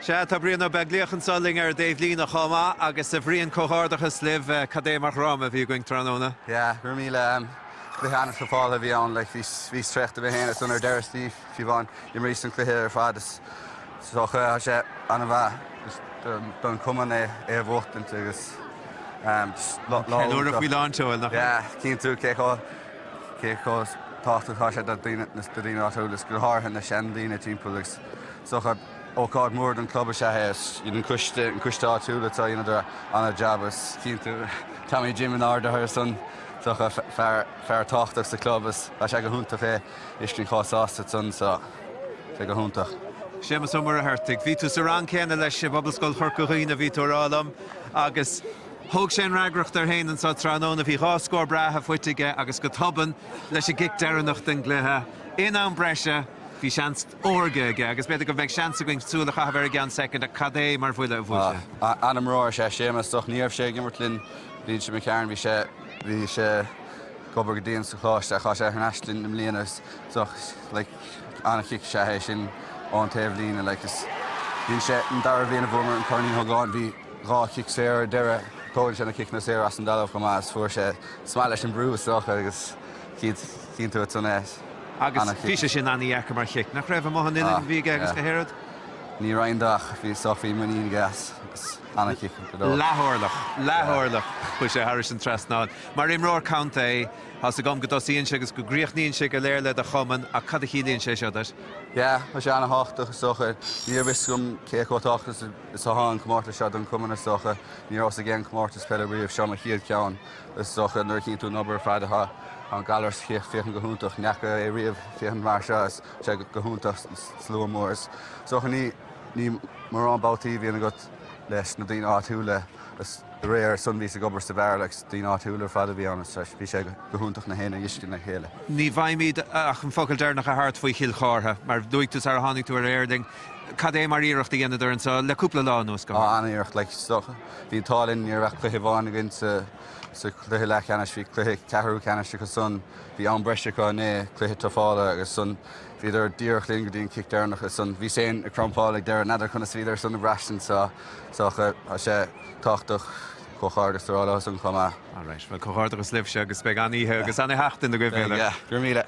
Sea, tá Brian Ó Beaglaoich anso linn ar an dtaobhlíne chomh maith agus, a Bhrian, comhghairdeachas libh, cad é mar dhráma a bhí againn tráthnóna. Sea, go raibh míle cluiche ana-thufáilte a bhí ann, like bhíos traochta mé féin ansan ar deireadh Steve Siobhán imríos an cluiche ar fad is dócha tá sé an-mhaith just don cumann é a bhuachtaint agus lá iontach. Ceiliúradh faoi lán tseoil, nach ea? Yeah, chíonn tú, cé chomh, cé chomh tábhachtach atá sé do daoine, do daoine áitiúil is go háirithe na seandaoine timpeall agus, Is dócha, ócáid mhór don chlub is ea é. Is iad an coiste, an coiste áitiúil atá a dhéanamh an-jab is chíonn tú Tommy Jim in airde ansan is dócha. Fear, fear tábhachtach sa chlub is tá sé go hiontach é fheiscint chomh sásta san so. Tá sé go hiontach. Séamus Ó Muircheartaigh. Bhí tú sa rang céanna leis i bPobalscoil Chorca Dhuibhne a bhí tú ag rá liom agus thóg sé an fhreagracht air féin anseo tráthnóna. Bhí dhá scór breátha faighte aige agus go tobann leis an gcic deireanach den gcluiche in am breise bhí seans órga aige agus b'fhéidir go mbeidh seans againn súil a chaitheamh air i gceann soicind ach cad é mar bhuille a bhuail sé? An-imreoir is ea Séamas is dócha ní raibh sé ag imirt linn bhíonn sé mo chearn bhí sé bhí sé ag obair go dian sa choláiste ach tá sé thar n-ais linn i mbliana agus is dócha like an-chic is ea é sin ón taobhlíne like is bhí sé an dara bhliain a bhuamar an Corn Uí Ógáin bhí dhá chic saor ar deireadh tógann sé na ciceanna saor as an dtalamh chomh maith is fuair sé is maith leis an brú is dócha agus cíd Chíonn tú ansan é. Agus bhí sé sin ana-dheacair mar chic, nach raibh? Amuigh an uillinn a bhí aige agus gach aon rud. Ní raibh aon dabht ach bhí is dócha muinín aige as agus ana-chic go deo. Leath-orlach, leath-orlach. Chuaigh sé thairis an trasnán. Mar imreoir contae, tá's agam go dtosaíonn sé agus go gcríochnaíonn sé go léir le do chumann ach cad a chiallaíonn sé seo duit? Yeah, tá sé ana-tháchtach is dócha. Ní raibh fhios agam cé chomh táchtach is atá an comórtas seo don chumann is dócha. Ní rabhas ag aon comórtas peile riamh, seo mo chéad cheann. Is dócha, nuair a chíonn tú an obair ar fad atá Gallaras ag féachaint go hiontach, n'fheaca é riamh ag féachaint mar seo is tá sé go hiontach slua mór. Is dócha ní ní mórán babhtaí a bhíonn agat leis na daoine áitiúla is aréir ansan bhíos ag obair sa bheár le daoine áitiúla ar fad a bhí ann is bhí sé go hiontach gach éinne a fheiscint le chéile. Ní bhfaighimid ach an focal deireanach a thabhairt faoi Chill Chartha mar luaigh tú sara tháinig tú ar aer linn cad é mar iarracht a dheineadar anseo le cúpla lá anuas go. Á, an-iarracht, like, is dócha. Bhí an t-ádh linn, ní raibh ach cluiche amháin againn sa chluiche leathcheannais, bhí cluiche ceathrú ceannais acu san, bhí am breise acu inné, cluiche tufáilte agus ansan bhíodar díreach linn go dtí an cic deireanach agus ansan bhíos féin ag crampáil ag deireadh, n'fheadar conas a bhíodar san ag braistint is dócha, tá sé tábhachtach comhghairdeas a rá leo san chomh maith. Alright, bhuel comhghairdeachas libhse agus beidh an-oíche agus an-sheachtain agaibh uile. Beidh, go raibh míle.